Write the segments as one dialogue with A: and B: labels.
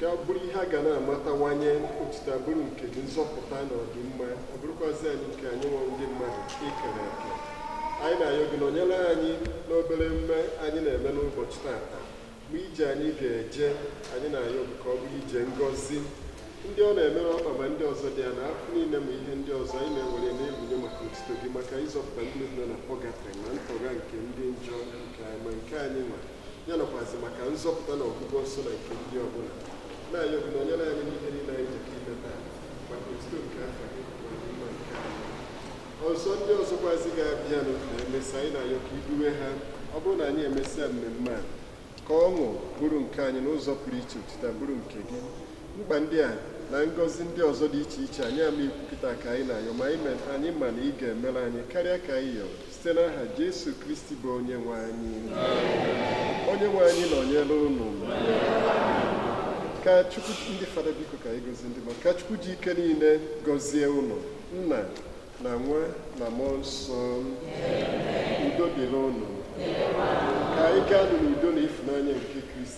A: ka ọ bụrụ ihe a ga na-amatawanye otito bụrụ nke gị nzọpụta na ọdịmma ọ bụrụkwazi anyị nke anyị nwa ndị mmadụ i kere eke anyị na-ayọ gị nọnyere anyị n'obere mme anyị na-eme n'ụbọchị tata ma ije anyị ga-eje anyị na-ayọ gị ka ọ bụrụ ije ngọzi ndị ọ na-emere ọkpa ma ndị ọzọ dị ya na afọ niile ma ihe ndị ọzọ anyị na-ewere na-ebunye maka otito gị maka ịzọpụta ndị nọ na pọgatrị ma ntọgha nke ndị njọ nke anyị ma nke anyị nwere ya nakwazi maka nzọpụta na ọgwụgwọ nsọ na nke ndị ọbụla na-ayọ gị nọnyere anyị n'ihe niile anyị ji ime taa maka otito nke afa gị mma nke anyị ọzọ ndị ọzọkwazi ga-abịanụ na emesịa anyị na-ayọ ka i duwe ha ọ bụrụ na anyị emesịa mmemme a ka ọṅụ bụrụ nke anyị n'ụzọ pụrụ iche otito bụrụ nke gị mkpa ndị a na ngọzi ndị ọzọ dị iche iche anyị ama ikwupụta ka anyị na-ayọ ma anyị ma na ị ga-emere anyị karịa ka anyị yọrọ site n'aha Jesu Kristi bụ onye nwe anyị onye nwe anyị nọnyere unu ka Chukwu ndị fada biko ka anyị gozie ndị mmadụ ka Chukwu ji ike niile gozie unu nna na nwa na mmụọ nsọ udo dịrị unu ka anyị gaanụ n'udo na ịfụnanya nke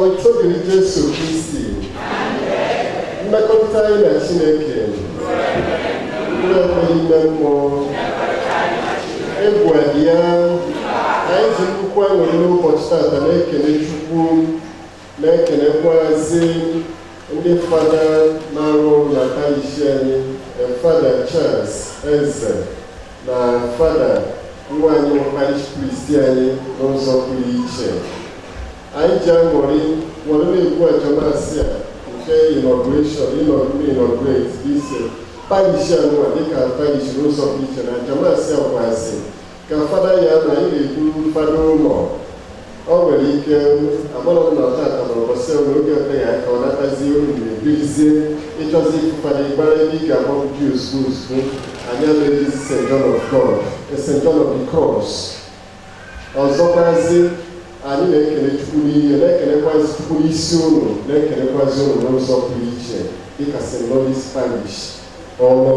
A: otito dịrị Jesu Kristi mmekọrịta anyị na Chineke ndị ọkpọ ime mmụọ egwu ya anyị ji nnukwu aṅụrị n'ụbọchị tata na-ekele Chukwu na-ekelekwazi ndị fada na-arụ na parishi anyị fada Charles Eze na fada nwa anyị bụ parish priest anyị n'ụzọ pụrụ iche anyị ji aṅụrị were na-ekwu aja Mass a nke inauguration ịnọgide inaugurate ise parish anụwa dịka parish n'ụzọ pụrụ iche n'aja Mass a kwazi ka fada ya na anyị na-ekwu fada ụlọ ọ nwere ike agbara na ọta akọrọ ụbọchị ọrụ oge ọta ya ka ọ natazi olu na-ebilizie ịchọzi ifu fada ịgbara ebe ị ga-agba ji osu osu anyị anaghị St. John of God St. John of the Cross ọzọkwazi anyị na-ekele chukwu n'ihe na-ekelekwazi chukwu n'isi ụlọ na-ekelekwazi ụlọ n'ụzọ pụrụ iche dịka St. Louis Parish ọrụ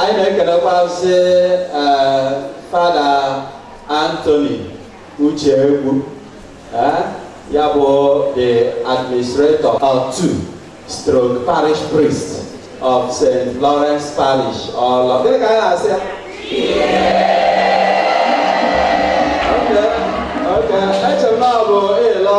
A: anyị na-ekelekwazi eh, fada Anthony Ucheegwu eh, ya bụ the administrator stroke parish priest of St. Lawrence Parish Ọlọ gịnị ka anyị na-asị ya Okay, okay. Echere m na ọ bụ ịlọ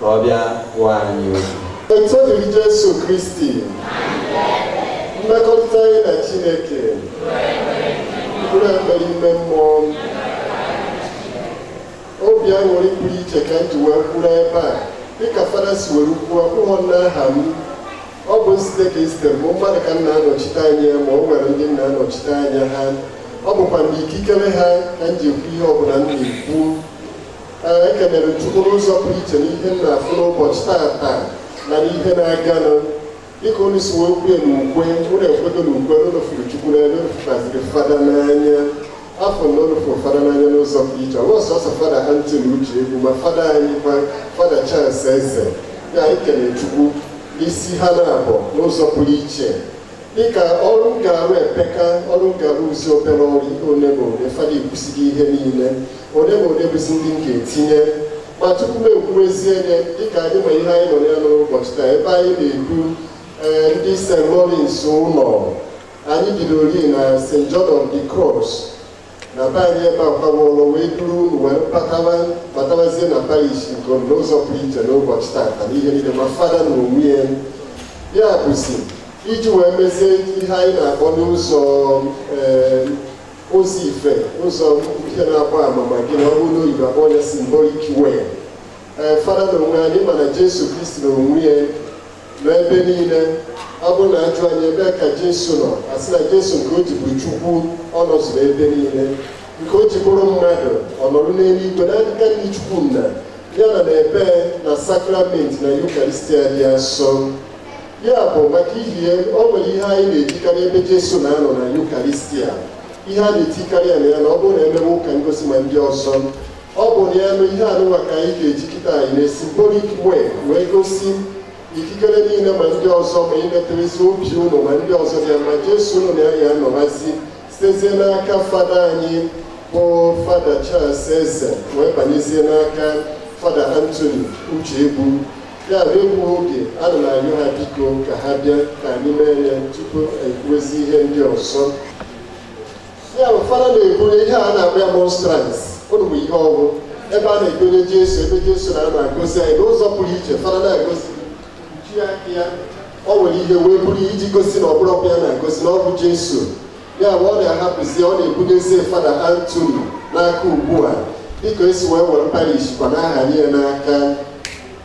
A: ka ọ bịa gwa anyị okwu. Otito dịrị Jesu Kristi, mmekọrịta anyị na Chineke, mkpụrụ ekpere ime mmụọ, obi aṅụrị pụrụ iche ka m ji wee kwuru ebe a dịka fada si were kwuo ụmụ nna aha m ọ bụ site ka esite bụ mmadụ ka m na-anọchite anya ma o nwere ndị m na-anọchite anya ha ọ bụkwa mgbe ikikere ha ka m ji ekwu ihe ọbụla m na-ekwu ekelere m Chukwu n'ụzọ pụrụ iche n'ihe m na-afụ n'ụbọchị tata na n'ihe na-aganụ dịka unu si wee kwue na ukwe unu ekwedo na ukwe unu fụrụ Chukwu n'anya unu fụkwaziri fada n'anya a fụ na unu fụrụ fada n'anya n'ụzọ pụrụ iche ọ bụ sọsọ fada Antoni Uchegbu ma fada anyị kwa fada Charles Eze ya anyị kelere Chukwu n'isi ha naabọ n'ụzọ pụrụ iche dịka ọrụ m ga-arụ epeka ọrụ m ga-arụ bụzi obere ọrụ ole ma ole fada ekwusighị ihe niile ole ma ole bụzi ndị m ga-etinye ma tupu m ekwuwezie ya dịka anyị ma ihe anyị nọ ya n'ụbọchị taa ebe anyị na-edu ee ndị St. Lawrence ụlọ anyị bidororị na St. John of the Cross na be anyị ebe akwawolo wee duru unu wee batawa batawazie na parish nke unu n'ụzọ pụrụ iche n'ụbọchị tata n'ihe niile ma fada na onwe ya ya bụzi iji wee mezie ihe anyị na-akpọ n'ụzọ ee, ụzọ ife ụzọ ihe na-agba ama ma gị na ọ bụrụ n'oyibo a kpọọ ya symbolic way ee fada na onwe anyị mana jesu kristi na onwe ya N'ebe niile, ọ bụrụ na a jụọ anyị ebe ka Jesu nọ, a sị na Jesu nke o ji bụ Chukwu ọ nọzuru ebe niile, nke o ji bụrụ mmadụ ọ nọrọ n'eluigwe n'aka nri Chukwu nna ya na n'ebe na sakramenti na Yukaristia dị asọ. Ya bụ maka ihi ya o nwere ihe anyị na-ejikarị ebe Jesu na-anọ na Yukaristia ihe a na-etikarị ya na ya na ọ bụrụ na e mewe ụka ngosi ma ndị ọzọ ọ bụ n'elu ihe anụnwa ka anyị ga-eji kịta anyị na symbolic way wee gosi ikikere niile ma ndị ọzọ ma imeterezi obi ụlọ ma ndị ọzọ bịa ma jesu ọ nọ na ya ya anọwazi sitezie n'aka fada anyị bụ fada charles eze wee banyezie n'aka fada antoni uchegbu ya bụ egbu oge ana m ayọ ha biko ka ha bịa ka anyị mee ya tupu anyị kwuezi ihe ndị ọzọ ya bụ fada na-ebunye ihe a na-akpọ ya monstrance unu ma ihe ọ bụ ebe a na-edonye jesu ebe jesu na-anọ agọzi anyị n'ụzọ pụrụ iche fada na-agọzi o kpuchie aka ya o were ihe wee buru ya iji gosi na ọ bụrọkwa ya na-agọzi na ọ bụ jesu ya bụ ọ na-ahapụzi ọ na-ebunyezie fada antoni n'aka ugbu a dịka e si wee were parish kwa na-ahanye ya n'aka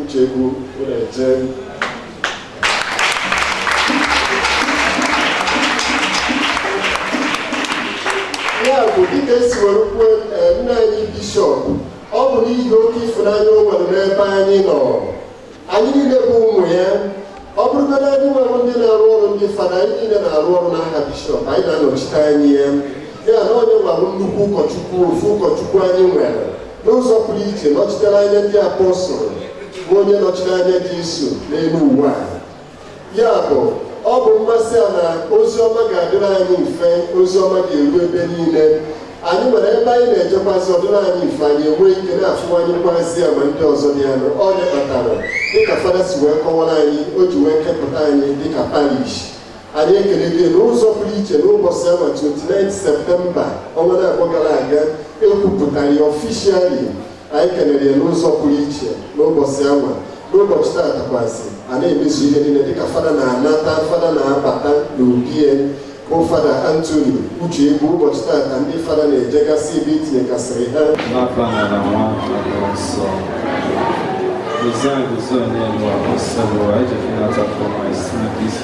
A: Uchegbu Ureje ya bụ dịka e si were kwuo eh, nna anyị bishọp ọ bụ n'ihi oke ịfụnanya o nwere n'ebe anyị nọ anyị niile bụ ụmụ ya ọ bụrụgodị anyị nwere ndị na-arụ ọrụ ndị fada anyị niile na-arụ ọrụ n'aha bishọp anyị na-anọchite anya ya ya na onye gwara nnukwu ụkọchukwu ofu ụkọchukwu anyị nwere N'ụzọ pụrụ iche, nọchitere anya ndị apọstụl bụ onye nọchiri anya Jeso n'elu ụwa a. Ya bụ, ọ bụ mmasị ya na ozi ọma ga-adịrị anyị mfe, ozi ọma ga-eru ebe niile. Anyị nwere ebe anyị na-eje mass ọ dịrị anyị mfe, anyị enwee ike na-afụwanyekwazi agwa ndị ọzọ dị anụ. Ọ bụ ihe kpatara, dịka Fada si wee kọwara anyị, o ji wee kepụta anyị dịka parish. anyị ekelee ya n'ụzọ pụrụ iche n'ụbọchị anwa 29 septemba ọnwa abụọ gara aga e kwupụtara ya ọfishiali anyị kelere ya n'ụzọ pụrụ iche n'ụbọchị anwa n'ụbọchị taata kwazị a na-emezu ihe niile dịka fada na-anata fada na-abata n'obie bụ fada antoni Uchegbu ụbọchị taata ndị fada na-ejegasị ebe e tinyegasịrị ha N'afa Nna na nwa na nsọ Gozan gozan n'elu a ọsọ bụ anyị ji finata fọma isi na isi